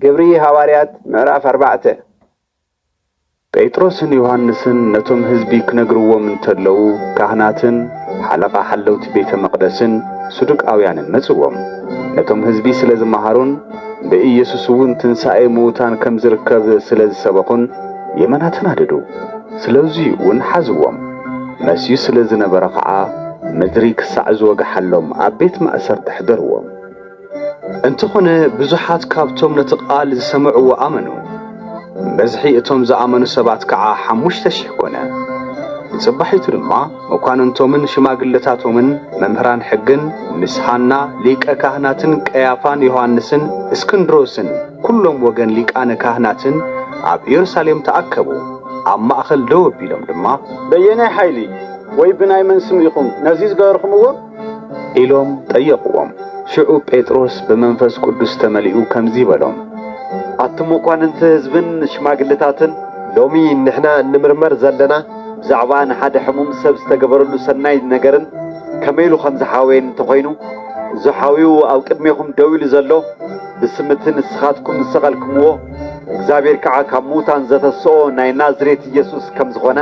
ግብሪ ሃዋርያት ምዕራፍ ኣርባዕተ ጴጥሮስን ዮሃንስን ነቶም ህዝቢ ክነግርዎም እንተለዉ ካህናትን ሓለቓ ሓለውቲ ቤተ መቕደስን ሱዱቃውያንን መጽዎም ነቶም ህዝቢ ስለ ዝመሃሩን ብኢየሱስ እውን ትንሣኤ ምዉታን ከም ዝርከብ ስለ ዝሰበኹን የመና ተናደዱ ስለዙይ እውን ሓዝዎም መስዩ ስለ ዝነበረ ኸዓ ምድሪ ክሳዕ ዝወግሓሎም ኣብ ቤት ማእሰርቲ ኣሕደርዎም። እንተኾነ ብዙሓት ካብቶም ነቲ ቓል ዝሰምዕዎ ኣመኑ፣ ብዝሒ እቶም ዝኣመኑ ሰባት ከኣ ሓሙሽተ ሽሕ ኮነ። ንጽባሒቱ ድማ መኳንንቶምን ሽማግለታቶምን መምህራን ሕግን ምስ ሃና ሊቀ ካህናትን ቀያፋን ዮሃንስን እስክንድሮስን ኵሎም ወገን ሊቃነ ካህናትን ኣብ ኢየሩሳሌም ተኣከቡ። ኣብ ማእከል ደው ኣቢሎም ድማ። በየናይ ሓይሊ ወይ ብናይ መን ስም ኢኹም ነዚ ዝገበርኩምዎ? ኢሎም ጠየቕዎም። ሽዑ ጴጥሮስ ብመንፈስ ቅዱስ ተመሊኡ ከምዚ በሎም፣ ኣቲ መኳንንቲ ህዝብን ሽማግልታትን፣ ሎሚ ንሕና እንምርመር ዘለና ብዛዕባ ንሓደ ሕሙም ሰብ ዝተገበረሉ ሰናይ ነገርን ከመይ ኢሉ ከም ዝሓወየን እንተ ዀይኑ፣ እዚ ሓውዩ ኣብ ቅድሜኹም ደው ኢሉ ዘሎ ብስም እቲ ንስኻትኩም ዝሰቐልክምዎ፣ እግዚኣብሄር ከኣ ካብ ምዉታን ዘተስኦ ናይ ናዝሬት ኢየሱስ ከም ዝዀነ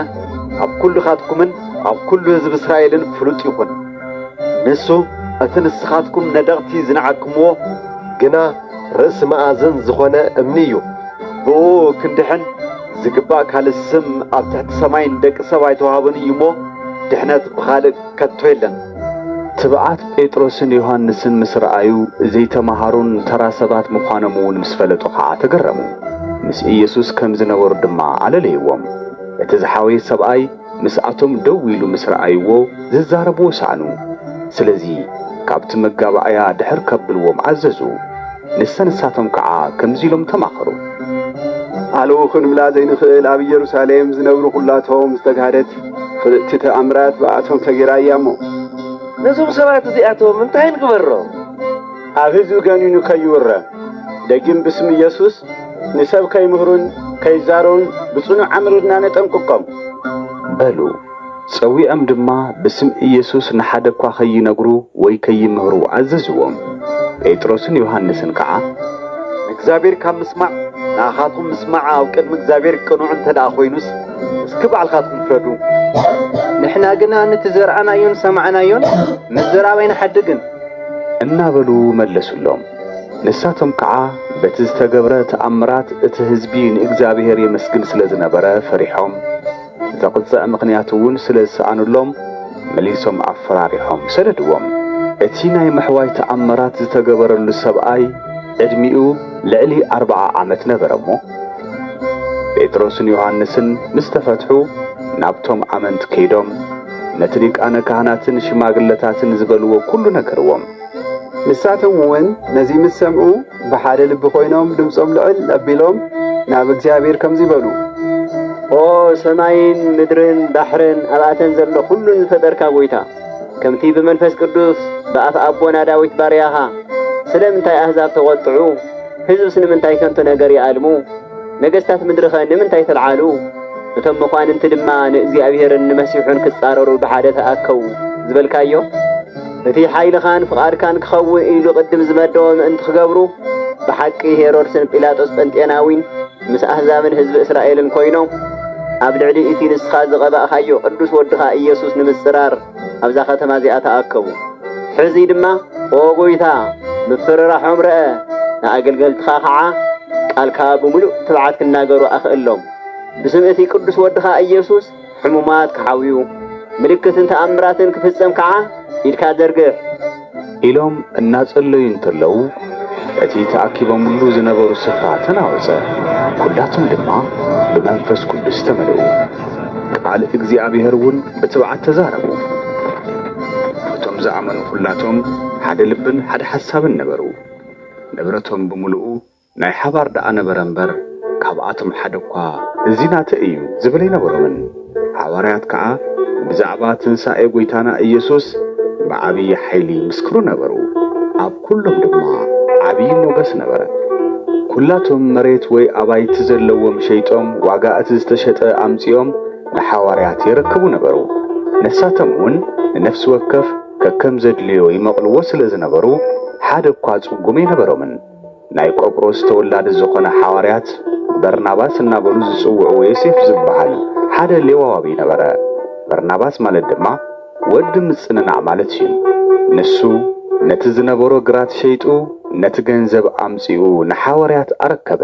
ኣብ ኵልኻትኩምን ኣብ ኵሉ ህዝቢ እስራኤልን ፍሉጥ ይኹን። ንሱ እቲ ንስኻትኩም ነደቕቲ ዝነዓቅኩምዎ ግና ርእሲ መኣዝን ዝዀነ እምኒ እዩ። ብእኡ ክንድሕን ዚግባእ ካልእ ስም ኣብ ትሕቲ ሰማይ ንደቂ ሰብ ኣይተዋህቦን እዩ እሞ፣ ድሕነት ብኻልእ ከቶ የለን። ትብዓት ጴጥሮስን ዮሃንስን ምስ ረኣዩ፣ ዘይተመሃሩን ተራ ሰባት ምዃኖም እውን ምስ ፈለጡ ኸኣ ተገረሙ። ምስ ኢየሱስ ከም ዝነበሩ ድማ ኣለለይዎም። እቲ ዝሓወየ ሰብኣይ፣ ምስኣቶም ደው ኢሉ ምስ ረኣይዎ ዝዛረብዎ ሰኣኑ። ስለዚ ካብቲ መጋባእያ ድሕር ከብልዎም ኣዘዙ። ንሰ ንሳቶም ከዓ ከምዚ ኢሎም ተማኸሩ። ሃለው ክንብላ ዘይንኽእል ኣብ ኢየሩሳሌም ዝነብሩ ኹላቶም ዝተግሃደት ፍልጥቲ ተኣምራት ብኣቶም ተገይራ እያ እሞ። ነዞም ሰባት እዚኣቶም እንታይ ንግበሮም? ኣብ ህዝቢ ገኒኑ ከይውረ ደጊም ብስም ኢየሱስ ንሰብ ከይምህሩን ከይዛረቡን ብጽኑዕ ኣምሪርና ነጠንቅቆም። በሉ። ጸዊዖም ድማ ብስም ኢየሱስ ንሓደ እኳ ከይነግሩ ወይ ከይምህሩ ኣዘዝዎም። ጴጥሮስን ዮሃንስን ከኣ። ንእግዚኣብሔር ካብ ምስማዕ ንኣኻትኩም ምስማዕ ኣብ ቅድሚ እግዚኣብሔር ቅኑዕ እንተ ደኣ ኮይኑስ እስኪ ባዕልኻትኩም ፍረዱ። ንሕና ግና ንቲ ዘርኣናዮን ሰማዕናዮን ምዝራብ ኣይንሓድግን። እናበሉ መለሱሎም። ንሳቶም ከዓ በቲ ዝተገብረ ተኣምራት እቲ ህዝቢ ንእግዚኣብሔር የመስግን ስለ ዝነበረ ፈሪሖም፣ ዘቕጽዕ ምኽንያት እውን ስለ ዝሰኣኑሎም መሊሶም ኣፈራሪሖም ሰደድዎም። እቲ ናይ ምሕዋይ ተኣምራት ዝተገበረሉ ሰብኣይ ዕድሚኡ ልዕሊ ኣርብዓ ዓመት ነበረ እሞ፣ ጴጥሮስን ዮሃንስን ምስ ተፈትሑ ናብቶም ኣመንቲ ከይዶም፣ ነቲ ሊቃነ ካህናትን ሽማግለታትን ዝበልዎ ኩሉ ነገርዎም። ንሳቶም እውን ነዚ ምስ ሰምዑ ብሓደ ልቢ ኮይኖም ድምፆም ልዕል ኣቢሎም ናብ እግዚኣብሔር ከምዚ በሉ፣ ኦ ሰማይን ምድርን ባሕርን ኣብኣተን ዘሎ ኩሉን ዝፈጠርካ ጐይታ፣ ከምቲ ብመንፈስ ቅዱስ ብኣፍ ኣቦና ዳዊት ባርያኻ ስለምንታይ ኣህዛብ ተቖጥዑ፣ ህዝብስ ንምንታይ ከንቱ ነገር ይኣልሙ? ነገስታት ምድሪኸ ንምንታይ ተልዓሉ? እቶም መኳንንቲ ድማ ንእግዚኣብሔርን ንመሲሑን ክጻረሩ ብሓደ ተኣከቡ ዝበልካዮ እቲ ሓይልኻን ፍቓድካን ክኸውን ኢሉ ቅድም ዝመደቦ ምእንቲ ክገብሩ ብሓቂ ሄሮድስን ጲላጦስ ጴንጤናዊን ምስ ኣህዛብን ህዝቢ እስራኤልን ኮይኖም ኣብ ልዕሊ እቲ ንስኻ ዝቐባእካዮ ቅዱስ ወድኻ ኢየሱስ ንምጽራር ኣብዛ ኸተማ እዚኣ ተኣከቡ። ሕዚ ድማ ኦ ጐይታ፣ ምፍርራሖም ርኣ፣ ንኣገልገልትኻ ኸዓ ቃልካ ብምሉእ ትብዓት ክናገሩ ኣኽእሎም። ብስም እቲ ቅዱስ ወድኻ ኢየሱስ ሕሙማት ክሓውዩ፣ ምልክትን ተኣምራትን ክፍጸም ከዓ ኢድካ ዘርግሕ። ኢሎም እናጸለዩ እንተለዉ እቲ ተኣኪቦምሉ ዝነበሩ ስፍራ ተናወጸ፣ ኵላቶም ድማ ብመንፈስ ቅዱስ ተመልኡ፣ ቃል እግዚኣብሔር እውን ብትብዓት ተዛረቡ። እቶም ዝኣመኑ ዅላቶም ሓደ ልብን ሓደ ሓሳብን ነበሩ፣ ንብረቶም ብምሉኡ ናይ ሓባር ደኣ ነበረ እምበር፣ ካብኣቶም ሓደ እኳ እዚ ናተይ እዩ ዝብል ኣይነበሮምን። ሓዋርያት ከኣ ብዛዕባ ትንሳኤ ጐይታና ኢየሱስ ብዓቢይ ሓይሊ ይምስክሩ ነበሩ፣ ኣብ ኵሎም ድማ ዓቢይ ሞገስ ነበረ። ኵላቶም መሬት ወይ ኣባይቲ ዘለዎም ሸይጦም ዋጋ እቲ ዝተሸጠ ኣምጺኦም ንሓዋርያት የረክቡ ነበሩ። ንሳቶም እውን ንነፍሲ ወከፍ ከከም ዘድልዮ ይመቕልዎ ስለ ዝነበሩ፣ ሓደ እኳ ጽጉም ኣይነበሮምን። ናይ ቆጵሮስ ተወላዲ ዝኾነ ሓዋርያት በርናባስ እናበሉ ዝጽውዕዎ ዮሴፍ ዝበሃል ሓደ ሌዋዋቢ ነበረ። በርናባስ ማለት ድማ ወዲ ምጽንናዕ ማለት እዩ። ንሱ ነቲ ዝነበሮ ግራት ሸይጡ ነቲ ገንዘብ ኣምጺኡ ንሓዋርያት ኣረከበ።